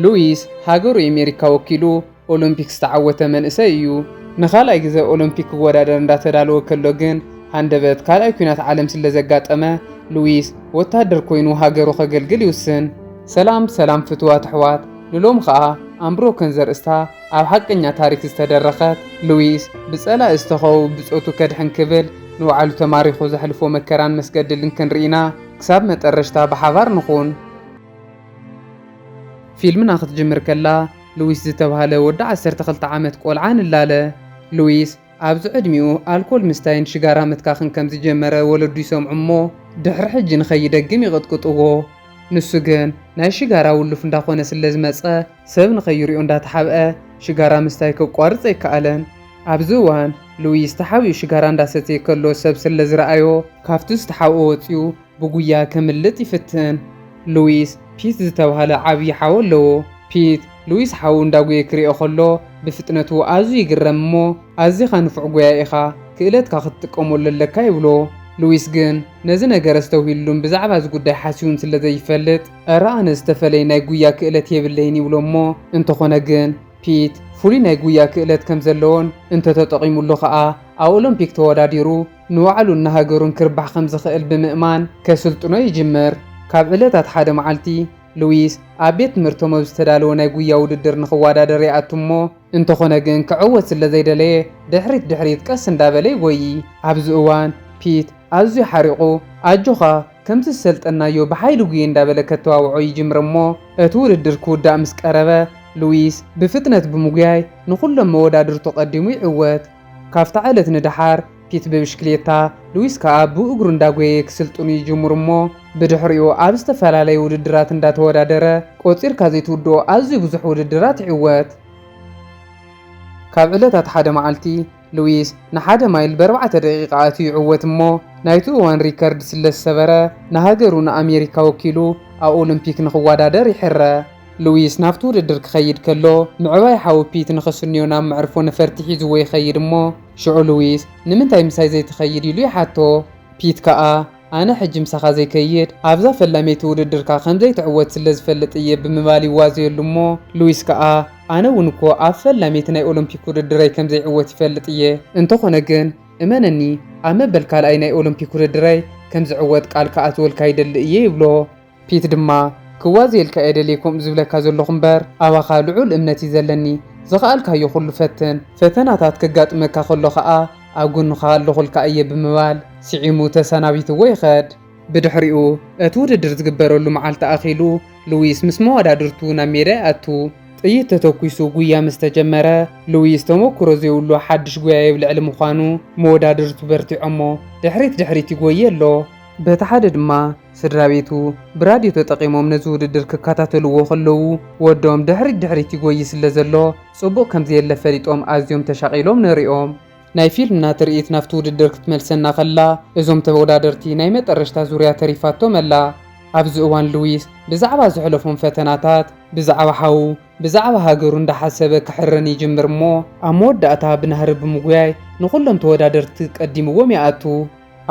ሉዊስ ሃገሩ ኤሜሪካ ወኪሉ ኦሎምፒክ ዝተዓወተ መንእሰይ እዩ። ንካልኣይ ግዘ ኦሎምፒክ ክወዳደር እንዳተዳለወ ከሎ ግን ሃንደበት ካልኣይ ኩናት ዓለም ስለዘጋጠመ ሉዊስ ወታደር ኮይኑ ሃገሩ ከገልግል ይውስን። ሰላም ሰላም ፍትዋት ኣሕዋት ንሎሚ ከኣ ኣምብሮከን ዘርእስታ ኣብ ሓቀኛ ታሪክ ዝተደረኸት ሉዊስ ብጸላኢ ዝተኸበቡ ብጾቱ ከድሕን ክብል ንባዕሉ ተማሪኹ ዘሕልፎ መከራን መስገድልን ክንሪኢና። ክሳብ መጠረሽታ ብሓባር ንኹን። ፊልምና ክትጅምር ከላ ሉዊስ ዝተብሃለ ወዲ ዓሰርተ ክልተ ዓመት ቆልዓ ንላለ። ሉዊስ ኣብዚ ዕድሚኡ ኣልኮል ምስታይን ሽጋራ ምትካኽን ከም ዝጀመረ ወለዱ ይሰምዑ እሞ ድሕሪ ሕጂ ንኸይደግም ይቕጥቅጥዎ። ንሱ ግን ናይ ሽጋራ ውሉፍ እንዳኾነ ስለዝመጸ ሰብ ንኸይሪኦ እንዳተሓብኣ ሽጋራ ምስታይ ከቋርጽ ኣይከኣለን። ኣብዚ እዋን ሉዊስ ተሓቢኡ ሽጋራ እንዳሰተየ ከሎ ሰብ ስለዝረኣዮ ካብቲ ዝተሓብኦ ወጺኡ ብጉያ ከምልጥ ይፍትን። ሉዊስ ፒት ዝተባህለ ዓብዪ ሓው ኣለዎ። ፒት ሉዊስ ሓዉ እንዳጉየ ክሪኦ ከሎ ብፍጥነቱ ኣዝዩ ይግረም እሞ ኣዚኻ ንፉዕ ጎያይ ኢኻ ክእለትካ ክትጥቀመሉ ኣለካ ይብሎ። ሉዊስ ግን ነዚ ነገር ኣስተውሂልሉን ብዛዕባ እዚ ጉዳይ ሓሲቡን ስለዘይፈልጥ፣ እረ ኣነ ዝተፈለየ ናይ ጉያ ክእለት የብለይን ይብሎ እሞ እንተኾነ ግን ፒት ፍሉይ ናይ ጉያ ክእለት ከም ዘለዎን እንተተጠቒሙሉ ከኣ ኣብ ኦሎምፒክ ተወዳዲሩ ንባዕሉን ንሃገሩን ክርባሕ ከም ዝኽእል ብምእማን ከስልጥኖ ይጅምር። ካብ ዕለታት ሓደ መዓልቲ፣ ሉዊስ ኣብ ቤት ትምህርቶም ኣብ ዝተዳለወ ናይ ጉያ ውድድር ንኽወዳደር ይኣቱ እሞ፣ እንተኾነ ግን ክዕወት ስለ ዘይደለየ ድሕሪት ድሕሪት ቀስ እንዳበለ ይጎዪ። ኣብዚ እዋን ፒት ኣዝዩ ሓሪቑ ኣጆኻ ከምቲ ዝሰልጠንናዮ ብሓይሊ ጉየ እንዳበለ ከተዋውዖ ይጅምር እሞ እቲ ውድድር ክውዳእ ምስ ቀረበ ሉዊስ ብፍጥነት ብምጉያይ ንኹሎም መወዳድርቱ ቀዲሙ ይዕወት። ካብታ ዕለት ንደሓር ፒት ብብሽክሌታ፣ ሉዊስ ከኣ ብእግሩ እንዳጎየየ ክስልጥኑ ይጅምሩ እሞ ብድሕሪኡ ኣብ ዝተፈላለየ ውድድራት እንዳተወዳደረ ቆጺርካ ዘይትውድኦ ኣዝዩ ብዙሕ ውድድራት ይዕወት። ካብ ዕለታት ሓደ መዓልቲ ሉዊስ ንሓደ ማይል ብኣርባዕተ ደቂቃ ኣትዩ ይዕወት እሞ ናይቱ እዋን ሪከርድ ስለዝሰበረ ንሃገሩ ንኣሜሪካ ወኪሉ ኣብ ኦሎምፒክ ንኽዋዳደር ይሕረ። ሉዊስ ናብቲ ውድድር ክኸይድ ከሎ፣ ምዕባይ ሓው ፒት ንኽስንዮ ናብ መዕርፎ ነፈርቲ ሒዝዎ ይኸይድ እሞ፣ ሽዑ ሉዊስ ንምንታይ ምሳይ ዘይትኸይድ ኢሉ ይሓቶ። ፒት ከኣ ኣነ ሕጂ ምሳኻ ዘይከይድ ኣብዛ ፈላመይቲ ውድድርካ ከም ዘይትዕወት ስለ ዝፈልጥ እየ ብምባል ይዋዘየሉ እሞ፣ ሉዊስ ከኣ ኣነ እውን እኮ ኣብ ፈላመይቲ ናይ ኦሎምፒክ ውድድረይ ከም ዘይዕወት ይፈልጥ እየ። እንተኾነ ግን እመነኒ ኣብ መበል ካልኣይ ናይ ኦሎምፒክ ውድድረይ ከም ዝዕወት ቃል ክኣትወልካ ይደሊ እየ ይብሎ። ፒት ድማ፣ ክዋዘየልካ እየ ደልየ ከምኡ ዝብለካ ዘለኹ እምበር፣ ኣባኻ ልዑል እምነት እዩ ዘለኒ። ዝኸኣልካዮ ኹሉ ፈትን። ፈተናታት ከጋጥመካ ከሎ ኸኣ ኣብ ጎንኻ ኣለኹልካ እየ ብምባል ስዒሙ ተሰናቢትዎ ይኸድ። ብድሕሪኡ፣ እቲ ውድድር ዝግበረሉ መዓልቲ ኣኺሉ፣ ሉዊስ ምስ መወዳድርቱ ናብ ሜዳ ይኣቱ። ጥይት ተተኲሱ ጉያ ምስ ተጀመረ፣ ሉዊስ ተመኩሮ ዘይብሉ ሓድሽ ጎያዪ ኣብ ልዕሊ ምዃኑ፣ መወዳድርቱ በርቲዖሞ ድሕሪት ድሕሪት ይጎዪ ኣሎ። በቲ ሓደ ድማ፣ ስድራቤቱ ብራድዮ ተጠቒሞም ነዚ ውድድር ክከታተልዎ ከለዉ፣ ወዶም ድሕሪት ድሕሪት ይጎዪ ስለ ዘሎ፣ ጽቡቕ ከም ዘየለ ፈሊጦም ኣዝዮም ተሻቒሎም ነሪኦም። ናይ ፊልምና ትርኢት ናብቲ ውድድር ክትመልሰና ከላ፣ እዞም ተወዳደርቲ ናይ መጠረሽታ ዙርያ ተሪፋቶም ኣላ። ኣብዚ እዋን ሉዊስ ብዛዕባ ዘሕለፎም ፈተናታት፣ ብዛዕባ ሓዉ፣ ብዛዕባ ሃገሩ እንዳሓሰበ ክሕረን ይጅምር እሞ፣ ኣብ መወዳእታ ብናህሪ ብምጉያይ ንኹሎም ተወዳደርቲ ቀዲምዎም ይኣቱ።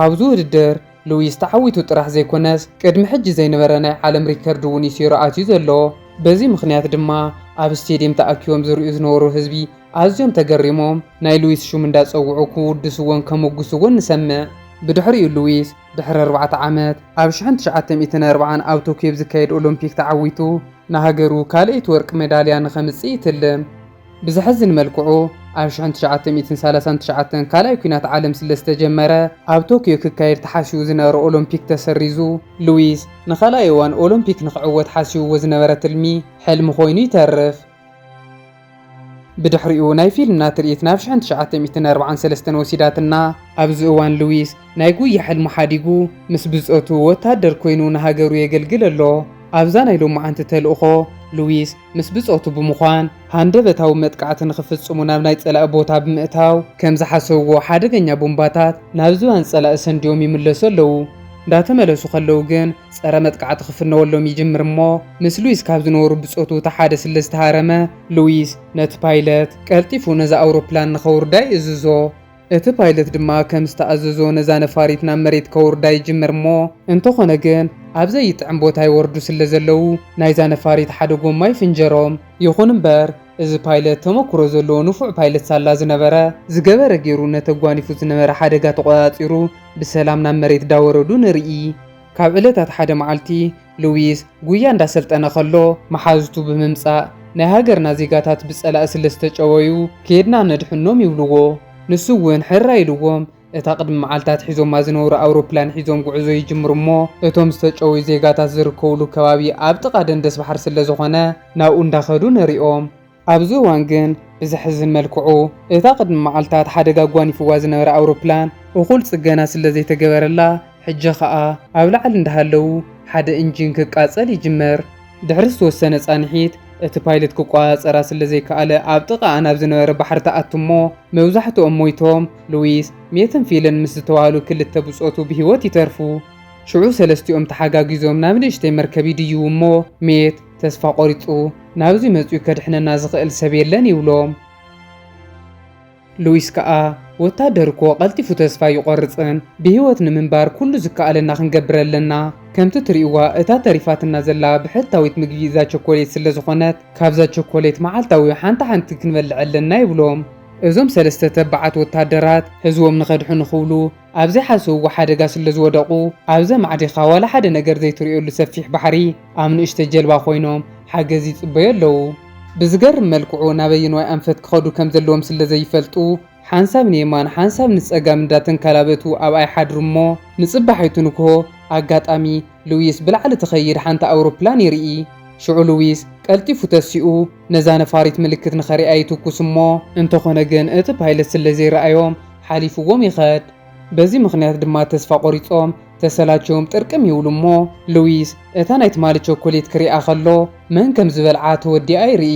ኣብዚ ውድድር ሉዊስ ተዓዊቱ ጥራሕ ዘይኮነስ ቅድሚ ሕጂ ዘይነበረ ናይ ዓለም ሪከርድ እውን እዩ ሴሩ ኣትዩ ዘሎ። በዚ ምኽንያት ድማ ኣብ ስቴድየም ተኣኪቦም ዝርእዩ ዝነበሩ ህዝቢ ኣዝዮም ተገሪሞም ናይ ሉዊስ ሹም እንዳጸውዑ ክውድስዎን ከሞግስዎን ንሰምዕ። ብድሕሪኡ ሉዊስ ድሕሪ ኣርባዕተ ዓመት ኣብ ሽሕን ትሽዓተ ሚእትን ኣርብዓን ኣብ ቶክዮ ብዝካየድ ኦሎምፒክ ተዓዊቱ ንሃገሩ ካልኣይቲ ወርቂ መዳልያ ንኸምጽእ ይትልም። ብዘሕዝን መልክዑ ኣብ ሽሕን ትሽዓተ ሚእትን ሰላሳን ትሽዓተን ካልኣይ ኩናት ዓለም ስለ ዝተጀመረ ኣብ ቶክዮ ክካየድ ተሓሲቡ ዝነበረ ኦሎምፒክ ተሰሪዙ። ሉዊስ ንኻልኣይ እዋን ኦሎምፒክ ንኽዕወት ሓሲብዎ ዝነበረ ትልሚ ሕልሚ ኮይኑ ይተርፍ። ብድሕሪኡ ናይ ፊልምና ትርኢት ናብ ሽሕን ትሽዓተ ሚእትን ኣርብዓን ሰለስተን ወሲዳትና። ኣብዚ እዋን ሉዊስ ናይ ጉያ ሕልሙ ሓዲጉ ምስ ብጾቱ ወተሃደር ኮይኑ ንሃገሩ የገልግል ኣሎ። ኣብዛ ናይ ሎማዓንቲ ተልእኾ ሉዊስ ምስ ብጾቱ ብምዃን ሃንደበታዊ መጥቃዕቲ ንኽፍጽሙ ናብ ናይ ጸላኢ ቦታ ብምእታው ከም ዝሓሰብዎ ሓደገኛ ቡምባታት ናብ ዝባን ጸላኢ ሰንድዮም ይምለሱ ኣለዉ። እንዳተመለሱ ከለዉ ግን ጸረ መጥቃዕቲ ክፍነወሎም ይጅምር እሞ ምስ ሉዊስ ካብ ዝነበሩ ብጾቱ እቲ ሓደ ስለ ዝተሃረመ ሉዊስ ነቲ ፓይለት ቀልጢፉ ነዛ ኣውሮፕላን ንኸውርዳ ይእዝዞ። እቲ ፓይለት ድማ ከም ዝተኣዘዞ ነዛ ነፋሪት ናብ መሬት ከውርዳ ይጅምር እሞ እንተኾነ ግን ኣብ ዘይጥዕም ቦታ ይወርዱ ስለ ዘለዉ ናይዛ ነፋሪት ሓደ ጎማ ይፍንጀሮም። ይኹን እምበር እዚ ፓይለት ተመኩሮ ዘለዎ ንፉዕ ፓይለት ሳላ ዝነበረ፣ ዝገበረ ጌሩ ነቲ ኣጓኒፉ ዝነበረ ሓደጋ ተቖጻጺሩ ብሰላም ናብ መሬት ዳወረዱ ንርኢ። ካብ ዕለታት ሓደ መዓልቲ ሉዊስ ጉያ እንዳሰልጠነ ከሎ መሓዙቱ ብምምጻእ ናይ ሃገርና ዜጋታት ብጸላኢ ስለ ዝተጨወዩ ኬድና ነድሕኖም ይብልዎ። ንሱ ውን ሕራይ ኢልዎም እታ ቅድሚ መዓልታት ሒዞማ ዝነበሩ ኣውሮፕላን ሒዞም ጉዕዞ ይጅምሩ እሞ እቶም ዝተጨወዩ ዜጋታት ዝርከቡሉ ከባቢ ኣብ ጥቓ ደንደስባሕሪ ስለ ዝኾነ ናብኡ እንዳኸዱ ንሪኦም። ኣብዚ እዋን ግን ብዘሕዝን መልክዑ እታ ቅድሚ መዓልታት ሓደጋ ኣጓኒፍዋ ዝነበረ ኣውሮፕላን እኹል ጽገና ስለዘይተገበረላ ሕጂ ከኣ ኣብ ላዕሊ እንዳሃለው ሓደ እንጂን ክቃጸል ይጅምር። ድሕሪ ዝተወሰነ ጻንሒት እቲ ፓይለት ክቆጻጸራ ስለዘይከኣለ ኣብ ጥቓኣ ናብ ዝነበረ ባሕሪ ትኣቱ እሞ መብዛሕትኦም ሞይቶም ሉዊስ፣ ሜትን ፊልን ምስ ዝተባህሉ ክልተ ብጾቱ ብህይወት ይተርፉ። ሽዑ ሰለስቲኦም ተሓጋጊዞም ናብ ንእሽተይ መርከብ ይድይቡ እሞ ሜት፣ ተስፋ ቆሪጹ ናብዚ መጽዩ ከድሕነና ዝኽእል ሰብ የለን ይብሎም። ሉዊስ ከኣ ወታደር እኮ ቀልጢፉ ተስፋ ኣይቆርጽን ብሂወት ንምንባር ኩሉ ዝከኣለና ክንገብር ኣለና ከምቲ ትሪእዋ እታ ተሪፋትና ዘላ ብሕታዊት ምግቢ እዛ ቸኮሌት ስለ ዝኾነት ካብዛ ቸኮሌት መዓልታዊ ሓንቲ ሓንቲ ክንበልዕ ኣለና ይብሎም። እዞም ሰለስተ ተባዓት ወታደራት ህዝቦም ንኸድሕኑ ክብሉ ኣብ ዘይሓሰብዎ ሓደጋ ስለዝወደቑ፣ ኣብ ዘማዕዲኻ ዋላ ሓደ ነገር ዘይትርእየሉ ሰፊሕ ባሕሪ፣ ኣብ ንእሽተይ ጀልባ ኮይኖም ሓገዝ ይጽበዩ ኣለዉ። ብዝገርም መልክዑ ናበየንዋይ ኣንፈት ክኸዱ ከምዘለዎም ስለዘይፈልጡ፣ ሓንሳብ ንየማን ሓንሳብ ንጸጋም እንዳተንካላበቱ ኣብኣ ይሓድሩ'ሞ፣ ንጽባሒቱ ንግሆ ኣጋጣሚ ሉዊስ ብላዕሊ ትኸይድ ሓንቲ ኣውሮፕላን ይርኢ። ሽዑ ሉዊስ ቀልጢፉ ተሲኡ ነዛ ነፋሪት ምልክት ንኸርእያ ይትኩስ'ሞ፣ እንተኾነ ግን እቲ ፓይለት ስለዘይረኣዮም፣ ሓሊፍዎም ይኸድ። በዚ ምኽንያት ድማ ተስፋ ቆሪጾም ተሰላችዮም ጥርቅም ይብሉ እሞ ሉዊስ እታ ናይ ትማሊ ቸኮሌት ክሪኣ ከሎ መን ከም ዝበልዓ ተወዲኣ ይርኢ።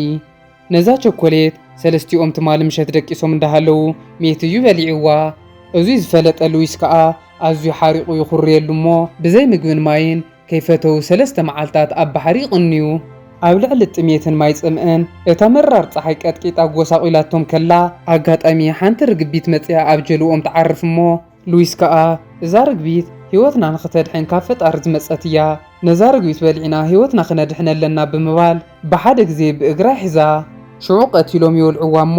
ነዛ ቸኮሌት ሰለስቲኦም ትማሊ ምሸት ደቂሶም እንዳሃለዉ ሚእቲ እዩ በሊዕዋ። እዙይ ዝፈለጠ ሉዊስ ከኣ ኣዝዩ ሓሪቑ ይኹርየሉ እሞ ብዘይ ምግብን ማይን ከይፈተዉ ሰለስተ መዓልታት ኣብ ባሕሪ ይቕንዩ። ኣብ ልዕሊ ጥሜትን ማይ ጽምእን እታ መራር ጸሓይ ቀጥቂጣ ኣጐሳቝላቶም ከላ፣ ኣጋጣሚ ሓንቲ ርግቢት መጺኣ ኣብ ጀልባኦም ትዓርፍ እሞ፣ ሉዊስ ከኣ እዛ ርግቢት ህይወትና ንኽተድሕን ካብ ፈጣሪ ዝመጸት እያ፣ ነዛ ርግቢት በሊዕና ህይወትና ክነድሕን ኣለና ብምባል ብሓደ ግዜ ብእግራ ይሕዛ። ሽዑ ቀቲሎም ይወልዑዋ እሞ፣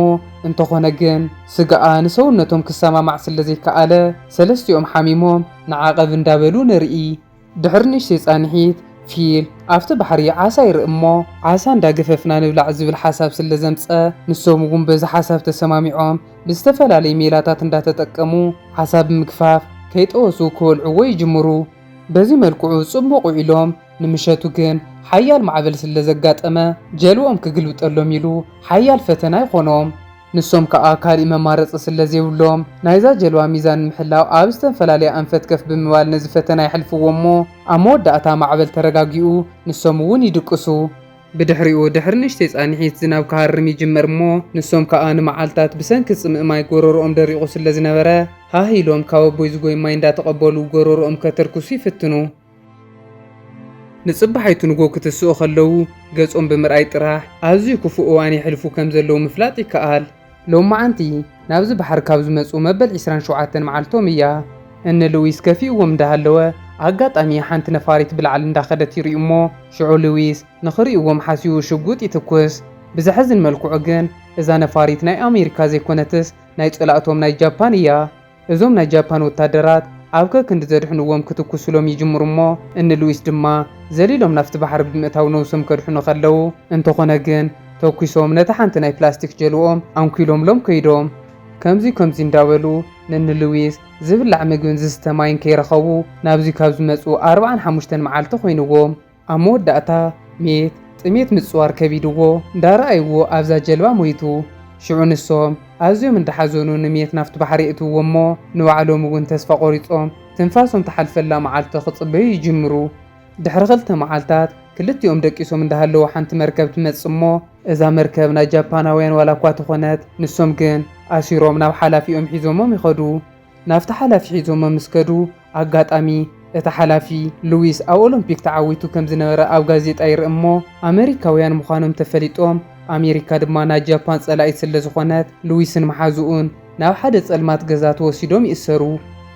እንተዀነ ግን ስጋኣ ንሰውነቶም ክሰማማዕ ስለ ዘይከኣለ፣ ሰለስቲኦም ሓሚሞም ንዓቐብ እንዳበሉ ንርኢ። ድሕሪ ንእሽተይ ፃንሒት፣ ፊል ኣብቲ ባሕሪ ዓሳ ይርኢ እሞ ዓሳ እንዳገፈፍና ንብላዕ ዝብል ሓሳብ ስለ ዘምፀ ንሶም እውን በዚ ሓሳብ ተሰማሚዖም ብዝተፈላለዩ ሜላታት እንዳተጠቀሙ ዓሳ ብምግፋፍ ከይጠወሱ ክበልዕዎ ይጅምሩ። በዚ መልክዑ ፅቡቕ ውዒሎም ንምሸቱ ግን ሓያል ማዕበል ስለ ዘጋጠመ ጀልብኦም ክግልብጠሎም ኢሉ ሓያል ፈተና ይኾኖም። ንሶም ከኣ ካሊእ መማረፂ ስለዘይብሎም ናይዛ ጀልባ ሚዛን ንምሕላው ኣብ ዝተንፈላለየ ኣንፈት ከፍ ብምባል ነዚ ፈተና የሕልፍዎ እሞ ኣብ መወዳእታ ማዕበል ተረጋጊኡ ንሶም እውን ይድቅሱ። ብድሕሪኡ ድሕሪ ንእሽተይ ፃንሒት ዝናብ ክሃርም ይጅምር እሞ ንሶም ከኣ ንመዓልታት ብሰንኪ ፅምኢ ማይ ጎረርኦም ደሪቑ ስለዝነበረ ሃህ ኢሎም ካብ ኣቦይ ዝጎይ ማይ እንዳተቐበሉ ጎረርኦም ከተርክሱ ይፍትኑ። ንጽባሒቱ ንጎ ክትስኡ ከለዉ ገጾም ብምርኣይ ጥራሕ ኣዝዩ ክፉእ እዋን የሕልፉ ከም ዘለዉ ምፍላጥ ይከኣል። ሎማዓንቲ ናብዚ ባሕሪ ካብ ዝመጽኡ መበል ዕስራን ሸውዓተን መዓልቶም እያ። እኒ ሉዊስ ከፊእዎም እንዳሃለወ ኣጋጣሚ ሓንቲ ነፋሪት ብላዕሊ እንዳኸደት ይሪኡ'ሞ ሽዑ ሉዊስ ንኽሪኡዎም ሓሲቡ ሽጉጥ ይትኩስ። ብዘሕዝን መልክዑ ግን እዛ ነፋሪት ናይ ኣሜሪካ ዘይኮነትስ ናይ ጸላእቶም ናይ ጃፓን እያ። እዞም ናይ ጃፓን ወታደራት ኣብ ከክንዲ ዘድሕንዎም ክትኩሱሎም ይጅምሩ እሞ እኒ ሉዊስ ድማ ዘሊሎም ናፍቲ ባሕሪ ብምእታው ነውሶም ከድሕኑ ከለው እንተኾነ ግን ተኩሶም ነታ ሓንቲ ናይ ፕላስቲክ ጀልብኦም ኣንኩይሎምሎም ከይዶም። ከምዙይ ከምዙይ እንዳበሉ ንኒ ሉዊስ ዝብላዕ ምግብን ዝስተ ማይን ከይረኸቡ ናብዙይ ካብ ዝመፁ ኣርብዓን ሓሙሽተን መዓልቲ ኮይንዎም። ኣብ መወዳእታ ሜት ጥሜት ምጽዋር ከቢድዎ እንዳረኣይዎ ኣብዛ ጀልባ ሞይቱ። ሽዑ ንሶም ኣዝዮም እንዳሓዘኑ ንሜት ናብቲ ባሕሪ የእትውዎ እሞ ንባዕሎም እውን ተስፋ ቆሪጾም ትንፋሶም ትሓልፈላ መዓልቲ ክጽበዩ ይጅምሩ። ድሕሪ ክልተ መዓልታት ክልቲኦም ደቂሶም እንዳሃለዉ ሓንቲ መርከብ ትመጽእ እሞ እዛ መርከብ ናይ ጃፓናውያን ዋላ እኳ ተኾነት ንሶም ግን ኣሲሮም ናብ ሓላፊኦም ሒዞሞም ይኸዱ። ናብቲ ሓላፊ ሒዞሞም ምስ ከዱ ኣጋጣሚ፣ እቲ ሓላፊ፣ ሉዊስ ኣብ ኦሎምፒክ ተዓዊቱ ከም ዝነበረ ኣብ ጋዜጣ ይርኢ እሞ፣ ኣመሪካውያን ምዃኖም ተፈሊጦም፣ ኣሜሪካ ድማ ናይ ጃፓን ጸላኢት ስለ ዝኾነት፣ ሉዊስን መሓዝኡን ናብ ሓደ ጸልማት ገዛ ተወሲዶም ይእሰሩ።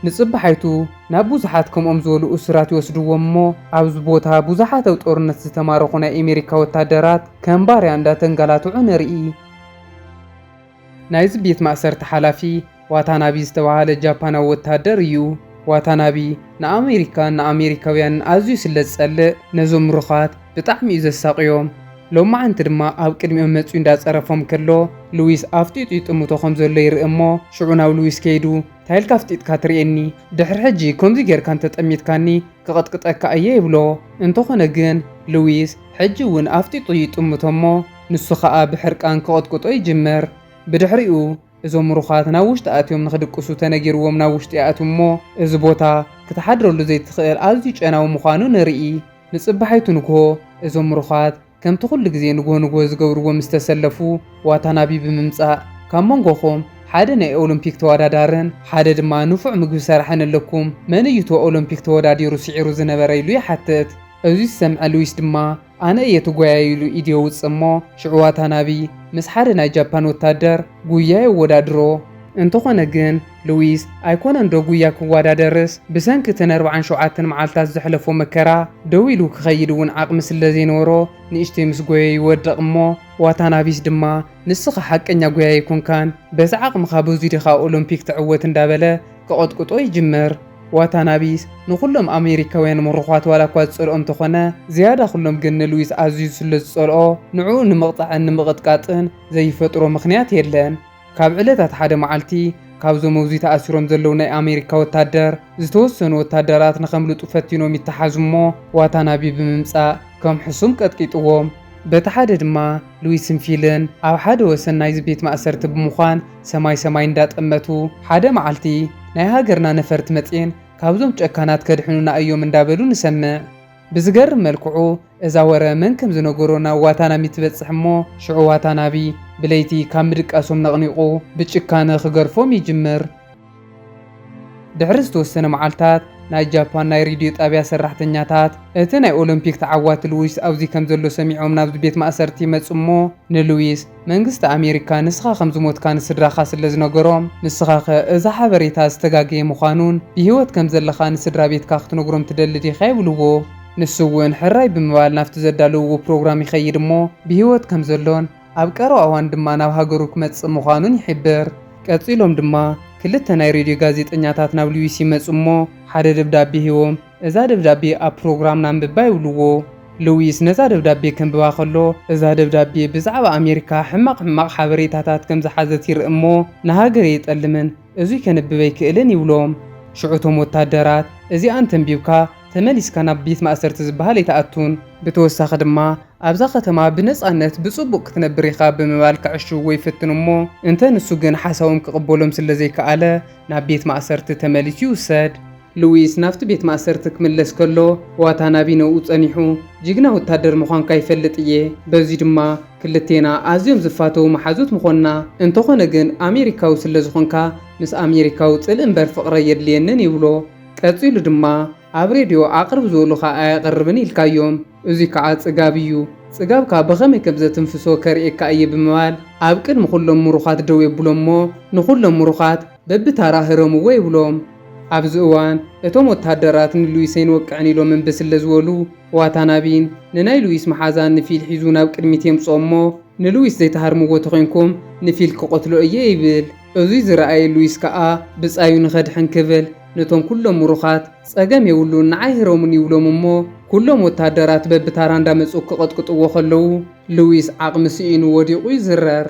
ንጽባሓይቱ ናብ ብዙሓት ከምኦም ዝበሉ እሱራት ይወስድዎም እሞ፣ ኣብዚ ቦታ ብዙሓት ኣብ ጦርነት ዝተማረኹ ናይ ኤሜሪካ ወታደራት ከም ባርያ እንዳተንጋላትዑ ንርኢ። ናይዚ ቤት ማእሰርቲ ሓላፊ ዋታናቢ ዝተባህለ ጃፓናዊ ወተሃደር እዩ። ዋታናቢ ንኣመሪካን ንኣመሪካውያንን ኣዝዩ ስለ ዝጸልእ ነዞም ምሩኻት ብጣዕሚ እዩ ዘሳቕዮም። ሎማዓንቲ ድማ ኣብ ቅድሚኦም መጺኡ እንዳጸረፎም ከሎ ሉዊስ ኣፍጢጡ ይጥምቶ ከም ዘሎ ይርኢ እሞ ሽዑ ናብ ሉዊስ ከይዱ ታይ ኢልካ ኣፍጢጥካ ትርእየኒ ድሕሪ ሕጂ ከምዚ ጌርካ እንተ ጠሚትካኒ ክቕጥቅጠካ እየ ይብሎ። እንተኾነ ግን ሉዊስ ሕጂ እውን ኣፍጢጡ ይጥምቶ እሞ ንሱ ኸኣ ብሕርቃን ክቕጥቅጦ ይጅምር። ብድሕሪኡ እዞም ምሩኻት ናብ ውሽጢ ኣትዮም ንኽድቅሱ ተነጊርዎም ናብ ውሽጢ ይኣትው እሞ እዚ ቦታ ክትሓድረሉ ዘይትኽእል ኣዝዩ ጨናዊ ምዃኑ ንርኢ። ንጽባሒቱ ንግሆ እዞም ምሩኻት ከምቲ ኩሉ ግዜ ንግሆ ንግሆ ዝገብርዎ ምስ ተሰለፉ ዋታናቢ ብምምጻእ ካብ መንጎኹም ሓደ ናይ ኦሎምፒክ ተወዳዳርን ሓደ ድማ ንፉዕ ምግቢ ሰራሕን ኣለኩም መን እዩ እቶ ኦሎምፒክ ተወዳዲሩ ስዒሩ ዝነበረ ኢሉ ይሓትት። እዚ ዝሰምዐ ሉዊስ ድማ ኣነ እየ እቲ ጓያይ ኢሉ ኢድ የውጽእ እሞ ሽዑ ዋታናቢ ምስ ሓደ ናይ ጃፓን ወታደር ጉያ የወዳድሮ። እንተኾነ ግን ሉዊስ ኣይኮነን ዶ ጉያ ክዋዳደርስ ብሰንኪ እቲ ንኣርብዓን ሸውዓተን መዓልታት ዘሕለፎ መከራ ደው ኢሉ ክኸይድ እውን ዓቕሚ ስለዘይነበሮ ንእሽተይ ምስ ጎየ ይወድቕ እሞ ዋታናቢስ ድማ ንስኻ ሓቀኛ ጎያይ ኣይኮንካን በዚ ዓቕምኻ በዙይ ዲኻ ኦሎምፒክ ትዕወት እንዳበለ ክቕጥቅጦ ይጅምር። ዋታናቢስ ንኹሎም ኣሜሪካውያን ምሩዃት ዋላ እኳ ዝጸልኦ እንተኾነ፣ ዝያዳ ኩሎም ግን ንሉዊስ ኣዝዩ ስለ ዝጸልኦ፣ ንዕኡ ንምቕጻዕን ንምቕጥቃጥን ዘይፈጥሮ ምኽንያት የለን። ካብ ዕለታት ሓደ መዓልቲ፣ ካብዞም ኣብዙይ ተኣሲሮም ዘለዉ ናይ ኣሜሪካ ወታደር፣ ዝተወሰኑ ወታደራት ንኸምልጡ ፈቲኖም ይተሓዙ እሞ፣ ዋታናቢ ብምምጻእ ከም ሕሱም ቀጥቂጥዎም። በቲ ሓደ ድማ ሉዊስን ፊልን ኣብ ሓደ ወሰን ናይዚ ቤት ማእሰርቲ ብምዃን፣ ሰማይ ሰማይ እንዳጠመቱ ሓደ መዓልቲ ናይ ሃገርና ነፈርቲ መጽየን ካብዞም ጨካናት ከድሕኑና እዮም እንዳበሉ ንሰምዕ። ብዝገርም መልክዑ እዛ ወረ መን ከም ዝነገሮ ናብ ዋታናሚ ትበጽሕ እሞ ሽዑ ዋታናቢ ብለይቲ ካብ ምድቃሶም ነቕኒቑ ብጭካነ ክገርፎም ይጅምር። ድሕሪ ዝተወሰነ መዓልታት ናይ ጃፓን ናይ ሬድዮ ጣብያ ሰራሕተኛታት እቲ ናይ ኦሎምፒክ ተዓዋቲ ልዊስ ኣብዚ ከም ዘሎ ሰሚዖም ናብዚ ቤት ማእሰርቲ ይመጹ እሞ ንልዊስ መንግስቲ ኣሜሪካ ንስኻ ከም ዝሞትካ ንስድራኻ ስለ ዝነገሮም ንስኻኸ እዚ ሓበሬታ ዝተጋገየ ምዃኑን ብህይወት ከም ዘለኻ ንስድራ ቤትካ ክትነግሮም ትደሊ ዲኻ ይብልዎ። ንሱ እውን ሕራይ ብምባል ናብቲ ዘዳለውዎ ፕሮግራም ይኸይድ እሞ ብህይወት ከም ዘሎን ኣብ ቀረባ እዋን ድማ ናብ ሃገሩ ክመጽእ ምዃኑን ይሕብር። ቀጺሎም ድማ ክልተ ናይ ሬድዮ ጋዜጠኛታት ናብ ሉዊስ ይመጹ እሞ ሓደ ደብዳቤ ሂቦም እዛ ደብዳቤ ኣብ ፕሮግራምና ኣንብባ ይብልዎ። ሉዊስ ነዛ ደብዳቤ ከንብባ ከሎ እዛ ደብዳቤ ብዛዕባ ኣሜሪካ ሕማቕ ሕማቕ ሓበሬታታት ከም ዝሓዘት ይርኢ እሞ ንሃገረይ የጠልምን እዙይ ከንብብ ኣይክእልን ይብሎም። ሽዑ እቶም ወታደራት እዚኣ እንተንቢብካ ተመሊስካ ናብ ቤት ማእሰርቲ ዝበሃል ኣይትኣቱን፣ ብተወሳኺ ድማ ኣብዛ ከተማ ብነፃነት ብፅቡቕ ክትነብር ኢኻ ብምባል ከዕሽውዎ ይፍትኑ እሞ እንተ ንሱ ግን ሓሳቦም ክቕበሎም ስለዘይከኣለ ናብ ቤት ማእሰርቲ ተመሊሱ ይውሰድ። ሉዊስ ናብቲ ቤት ማእሰርቲ ክምለስ ከሎ ዋታናቢ ነብኡ ፀኒሑ ጅግና ወታደር ምዃንካ ይፈልጥ እየ፣ በዙይ ድማ ክልቴና ኣዝዮም ዝፋተዉ መሓዙት ምኾንና እንተኾነ ግን ኣሜሪካዊ ስለዝኾንካ ምስ ኣሜሪካዊ ጽልኢ እምበር ፍቕሪ ኣየድልየንን ይብሎ ቀጺሉ ድማ ኣብ ሬድዮ ኣቕርብ ዝኡሉኻ ኣየቕርብን ኢልካዮም እዙይ ከዓ ጽጋብ እዩ ጽጋብካ ብኸመይ ከምዘትንፍሶ ከርእየካ እየ ብምባል ኣብ ቅድሚ ኹሎም ሙሩኻት ደው የብሎሞ ንኹሎም ሙሩኻት በብታራ ህረምዎ ይብሎም። ኣብዚ እዋን እቶም ወተሃደራት ንሉዊስ ኣይንወቅዕን ኢሎም እምቢ ስለ ዝበሉ፣ ዋታናቢን ንናይ ሉዊስ መሓዛን ንፊል ሒዙ ናብ ቅድሚት የምጽኦ እሞ፣ ንሉዊስ ዘይትሃርምዎ ተኾይንኩም ንፊል ክቐትሎ እየ ይብል። እዙይ ዝረኣየ ሉዊስ ከኣ ብጻዩ ንኸድሕን ክብል ነቶም ኩሎም ምሩኻት ጸገም የብሉን ንዓይ ህረሙኒ ይብሎም እሞ፣ ኩሎም ወተሃደራት በብታራ እንዳመጹ ክቐጥቅጥዎ ከለዉ ሉዊስ ዓቕሚ ስኢኑ ወዲቑ ይዝረር።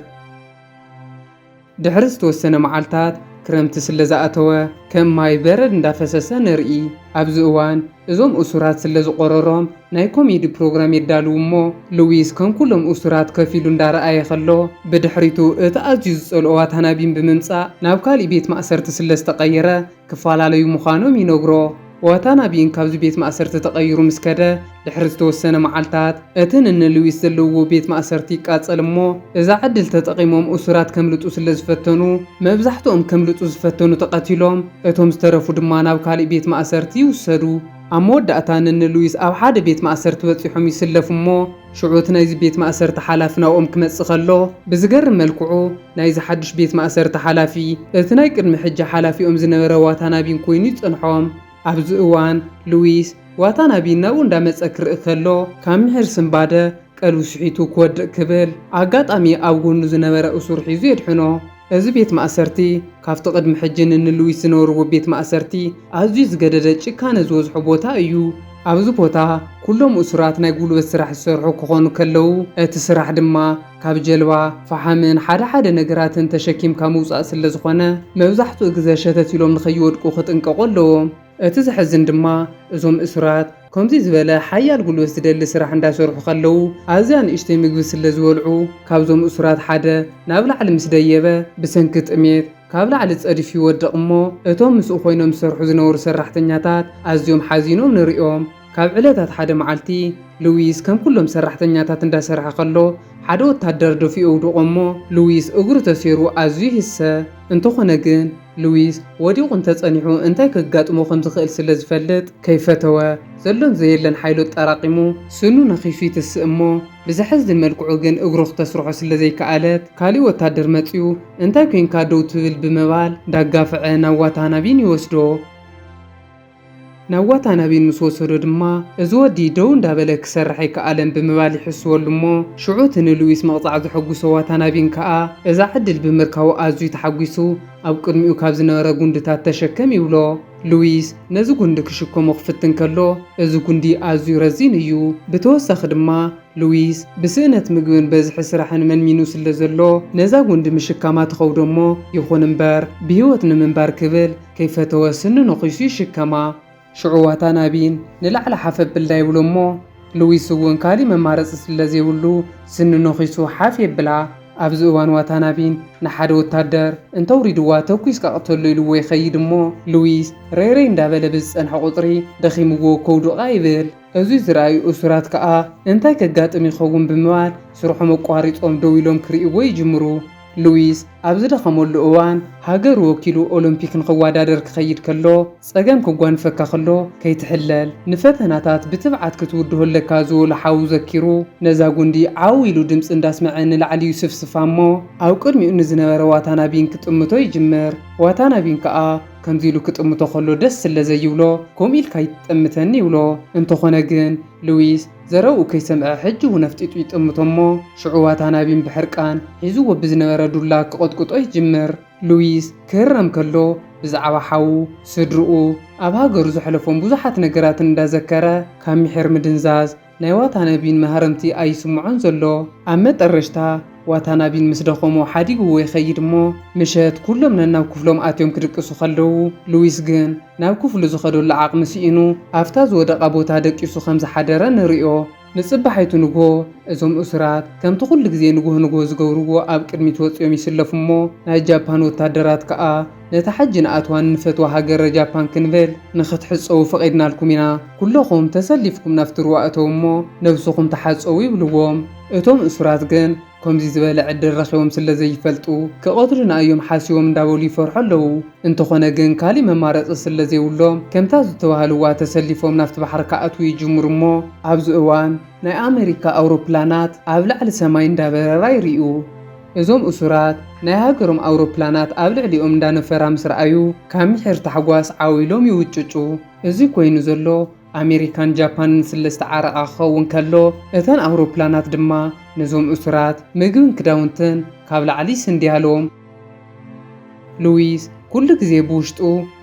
ድሕሪ ዝተወሰነ መዓልታት ክረምቲ ስለ ዝኣተወ ከም ማይ በረድ እንዳፈሰሰ ንርኢ። ኣብዚ እዋን እዞም እሱራት ስለ ዝቖረሮም ናይ ኮሜዲ ፕሮግራም የዳልዉ እሞ ልዊስ ከም ኩሎም እሱራት ከፍ ኢሉ እንዳረኣየ ከሎ ብድሕሪቱ እቲ ኣዝዩ ዝጸልኦ ዋታናቢን ብምምጻእ ናብ ካሊእ ቤት ማእሰርቲ ስለ ዝተቐየረ ክፈላለዩ ምዃኖም ይነግሮ። ዋታናቢ እንካብዚ ቤት ማእሰርቲ ተቐይሩ ምስ ከደ ድሕሪ ዝተወሰነ መዓልታት፣ እቲ ንነ ሉዊስ ዘለውዎ ቤት ማእሰርቲ ይቃጸል እሞ፣ እዛ ዕድል ተጠቒሞም እሱራት ከምልጡ ስለ ዝፈተኑ፣ መብዛሕትኦም ከምልጡ ዝፈተኑ ተቐቲሎም፣ እቶም ዝተረፉ ድማ ናብ ካልእ ቤት ማእሰርቲ ይውሰዱ። ኣብ መወዳእታ ንነ ሉዊስ ኣብ ሓደ ቤት ማእሰርቲ በጺሖም ይስለፉ እሞ፣ ሽዑ እቲ ናይዚ ቤት ማእሰርቲ ሓላፊ ናብኦም ክመጽእ ከሎ፣ ብዝገርም መልክዑ፣ ናይዚ ሓድሽ ቤት ማእሰርቲ ሓላፊ እቲ ናይ ቅድሚ ሕጂ ሓላፊኦም ዝነበረ ዋታናቢን ኮይኑ ይጸንሖም። ኣብዚ እዋን ሉዊስ ዋታናቢን ናብኡ እንዳመጸ ክርኢ ከሎ ካብ ምሒር ስንባደ ቀልቡ ስሒቱ ክወድቅ ክብል ኣጋጣሚ ኣብ ጎኑ ዝነበረ እሱር ሒዙ የድሕኖ። እዚ ቤት ማእሰርቲ ካብቲ ቅድሚ ሕጂ ንንሉዊስ ዝነበርዎ ቤት ማእሰርቲ ኣዝዩ ዝገደደ ጭካነ ዝወዝሖ ቦታ እዩ። ኣብዚ ቦታ ኩሎም እሱራት ናይ ጉልበት ስራሕ ዝሰርሑ ክኾኑ ከለው እቲ ስራሕ ድማ ካብ ጀልባ ፈሓምን ሓደ ሓደ ነገራትን ተሸኪምካ ምውጻእ ስለዝኾነ መብዛሕትኡ ግዘ ሸተት ኢሎም ንኸይወድቁ ክጥንቀቑ ኣለዎም። እቲ ዘሕዝን ድማ እዞም እሱራት ከምዙይ ዝበለ ሓያል ጉልበት ዝደሊ ስራሕ እንዳሰርሑ ከለው ኣዝያ ንእሽተይ ምግቢ ስለዝበልዑ ካብዞም እሱራት ሓደ ናብ ላዕሊ ምስ ደየበ ብሰንኪ ጥሜት ካብ ላዕሊ ፀዲፉ ይወድቕ እሞ እቶም ምስኡ ኮይኖም ዝሰርሑ ዝነበሩ ሰራሕተኛታት ኣዝዮም ሓዚኖም ንሪኦም ካብ ዕለታት ሓደ መዓልቲ፣ ሉዊስ ከም ኩሎም ሰራሕተኛታት እንዳ ሰርሐ ከሎ፣ ሓደ ወታደር ደፊኡ ኣውድቖ እሞ ሉዊስ እግሩ ተሴሩ ኣዝዩ ይህሰ። እንተኾነ ግን ሉዊስ ወዲቑ እንተ ጸኒሑ እንታይ ከጋጥሞ ከም ዝኽእል ስለ ዝፈልጥ ከይፈተወ፣ ዘሎን ዘየለን ሓይሉ ኣጣራቒሙ ስኑ ነኺሱ ይትስእ እሞ ብዘሕዝን መልክዑ ግን እግሩ ክተስርሖ ስለ ዘይከኣለት ካሊእ ወታደር መጺኡ እንታይ ኮንካ ደው ትብል ብምባል እንዳጋፍዐ ናብ ዋታናቢን ይወስዶ። ናብ ዋታናቤን ምስ ወሰዶ ድማ፣ እዚ ወዲ ደው እንዳበለ ክሰርሕ ኣይከኣለን ብምባል ይሕስወሉ እሞ፣ ሽዑ እቲ ንሉዊስ ምቕጻዕ ዘሐጉሶ ዋታናቤን ከኣ፣ እዛ ዕድል ብምርካቡ ኣዝዩ ተሓጒሱ፣ ኣብ ቅድሚኡ ካብ ዝነበረ ጉንድታት ተሸከም ይብሎ። ሉዊስ ነዚ ጉንዲ ክሽከሞ ክፍትን ከሎ፣ እዚ ጉንዲ ኣዝዩ ረዚን እዩ። ብተወሳኺ ድማ፣ ሉዊስ ብስእነት ምግብን በዝሒ ስራሕን መንሚኑ ስለዘሎ፣ ነዛ ጉንዲ ምሽካማ ትኸብዶ እሞ፣ ይኹን እምበር ብህይወት ንምንባር ክብል፣ ከይፈተወ ስኒ ነኺሱ ይሽከማ። ሽዑ ዋታናቢን ንላዕሊ ሓፍ ኣብልዳ ይብሎ እሞ ሉዊስ እውን ካሊእ መማረፂ ስለዘይብሉ ስኒ ነኺሱ ሓፍ የብላ። ኣብዚ እዋን ዋታናቢን ንሓደ ወታደር እንተውሪድዋ ተኲስካ ቅተሎ ኢልዎ ይኸይድ እሞ ሉዊስ ረይረይ እንዳበለ ብዝፀንሐ ቁፅሪ ደኺምዎ ከውድቓ ይብል። እዙይ ዝረኣዩ እሱራት ከዓ እንታይ ከጋጥም ይኸውን ብምባል ስርሖም ኣቋሪፆም ደው ኢሎም ክሪእዎ ይጅምሩ። ሉዊስ ኣብ ዝደኸመሉ እዋን ሃገሩ ወኪሉ ኦሎምፒክ ንኽወዳደር ክኸይድ ከሎ ጸገም ክጓንፈካ ከሎ ከይትሕለል ንፈተናታት ብትብዓት ክትውድሆ ኣለካ ዝበሎ ሓዉ ዘኪሩ ነዛ ጉንዲ ዓው ኢሉ ድምጺ እንዳስመዐ ንላዕሊ ይስፍስፋ እሞ ኣብ ቅድሚኡ ንዝነበረ ዋታናቢን ክጥምቶ ይጅምር ዋታናቢን ከኣ ከምዚ ኢሉ ክጥምቶ ከሎ ደስ ስለ ዘይብሎ ከምኡ ኢልካ ኣይትጠምተኒ ይብሎ እንተኾነ ግን ሉዊስ ዘረብኡ ከይሰምዐ ሕጂ እውን ኣፍጢጡ ይጥምቶ እሞ ሽዑ ዋታናቢን ብሕርቃን ሒዝዎ ብዝነበረ ዱላ ክቕጥቅጦ ይጅምር። ሉዊስ ክህረም ከሎ ብዛዕባ ሓዉ፣ ስድርኡ፣ ኣብ ሃገሩ ዘሕለፎም ብዙሓት ነገራትን እንዳዘከረ ካብ ሚሒር ምድንዛዝ ናይ ዋታናቢን መሃረምቲ ኣይስምዖን ዘሎ። ኣብ መጠረሽታ። ዋታናቢን ምስ ደኸሞ ሓዲግዎ ይኸይድ እሞ ምሸት ኩሎም ነናብ ክፍሎም ኣትዮም ክድቅሱ ከለዉ ሉዊስ ግን ናብ ክፍሉ ዝኸደሉ ዓቕሚ ስኢኑ ኣብታ ዝወደቓ ቦታ ደቂሱ ከም ዝሓደረ ንርእዮ። ንጽባሒቱ ንግሆ እዞም እሱራት ከምቲ ኩሉ ግዜ ንግሆ ንግሆ ዝገብርዎ ኣብ ቅድሚት ወጺኦም ይስለፉ እሞ ናይ ጃፓን ወታደራት ከኣ ነታ ሕጂ ንኣትዋን ንፈትዋ ሃገረ ጃፓን ክንብል ንኽትሕጸዉ ፈቒድናልኩም ኢና ኩሎኹም ተሰሊፍኩም ናብቲ ሩባ እተዉ እሞ ነብስኹም ተሓጸዉ ይብልዎም። እቶም እሱራት ግን ኮምዚ ዝበለ ዕድል ረኺቦም ስለ ዘይፈልጡ ክቐትሉና እዮም ሓሲቦም እንዳበሉ ይፈርሑ ኣለዉ። እንተኾነ ግን ካሊእ መማረፂ ስለ ዘይብሎም ከምታ ዝተባህልዋ ተሰሊፎም ናብቲ ባሕሪ ክኣትዉ ይጅምሩ እሞ ኣብዚ እዋን ናይ ኣመሪካ ኣውሮፕላናት ኣብ ላዕሊ ሰማይ እንዳበረራ ይሪኡ። እዞም እሱራት ናይ ሃገሮም ኣውሮፕላናት ኣብ ልዕሊኦም እንዳነፈራ ምስ ረኣዩ ካብ ምሒር ታሕጓስ ዓው ኢሎም ይውጭጩ። እዚ ኮይኑ ዘሎ ኣሜሪካን ጃፓንን ስለ ዝተዓረቓ ክኸውን ከሎ፣ እተን ኣውሮፕላናት ድማ ነዞም እሱራት ምግብን ክዳውንትን ካብ ላዕሊ ይስንድያሎም። ሉዊስ ኩሉ ግዜ ብውሽጡ፣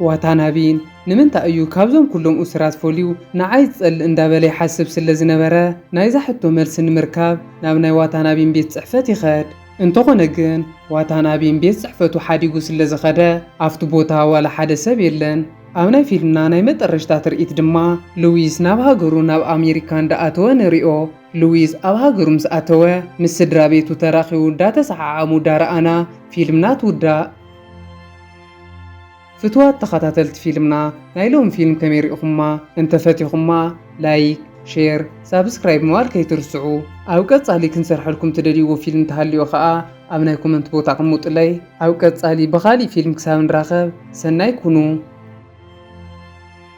ዋታናቢን ንምንታይ እዩ ካብዞም ኩሎም እሱራት ፈልዩ ንዓይ ዝጸልእ እንዳበለ ይሓስብ ስለ ዝነበረ፣ ናይዛ ሕቶ መልሲ ንምርካብ ናብ ናይ ዋታናቢን ቤት ጽሕፈት ይኸድ። እንተኾነ ግን ዋታናቢን ቤት ጽሕፈቱ ሓዲጉ ስለ ዝኸደ፣ ኣብቲ ቦታ ዋላ ሓደ ሰብ የለን። ኣብ ናይ ፊልምና ናይ መጠረሽታ ትርኢት ድማ ሉዊስ ናብ ሃገሩ ናብ ኣሜሪካ እንዳኣተወ ንሪኦ። ሉዊስ ኣብ ሃገሩ ምስ ኣተወ ምስ ስድራ ቤቱ ተራኺቡ እንዳተሰዓዓሙ ዳረኣና ፊልምና ትውዳእ። ፍቱዋት ተኸታተልቲ ፊልምና ናይ ሎሚ ፊልም ከመይ ሪኢኹማ? እንተ ፈቲኹማ ላይክ፣ ሼር፣ ሳብስክራይብ ምባል ከይትርስዑ። ኣብ ቀጻሊ ክንሰርሐልኩም ትደልይዎ ፊልም ተሃልዮ ከኣ ኣብ ናይ ኮመንት ቦታ ኣቅሙጥለይ። ኣብ ቀጻሊ ብኻሊእ ፊልም ክሳብ ንራኸብ ሰናይ ኩኑ።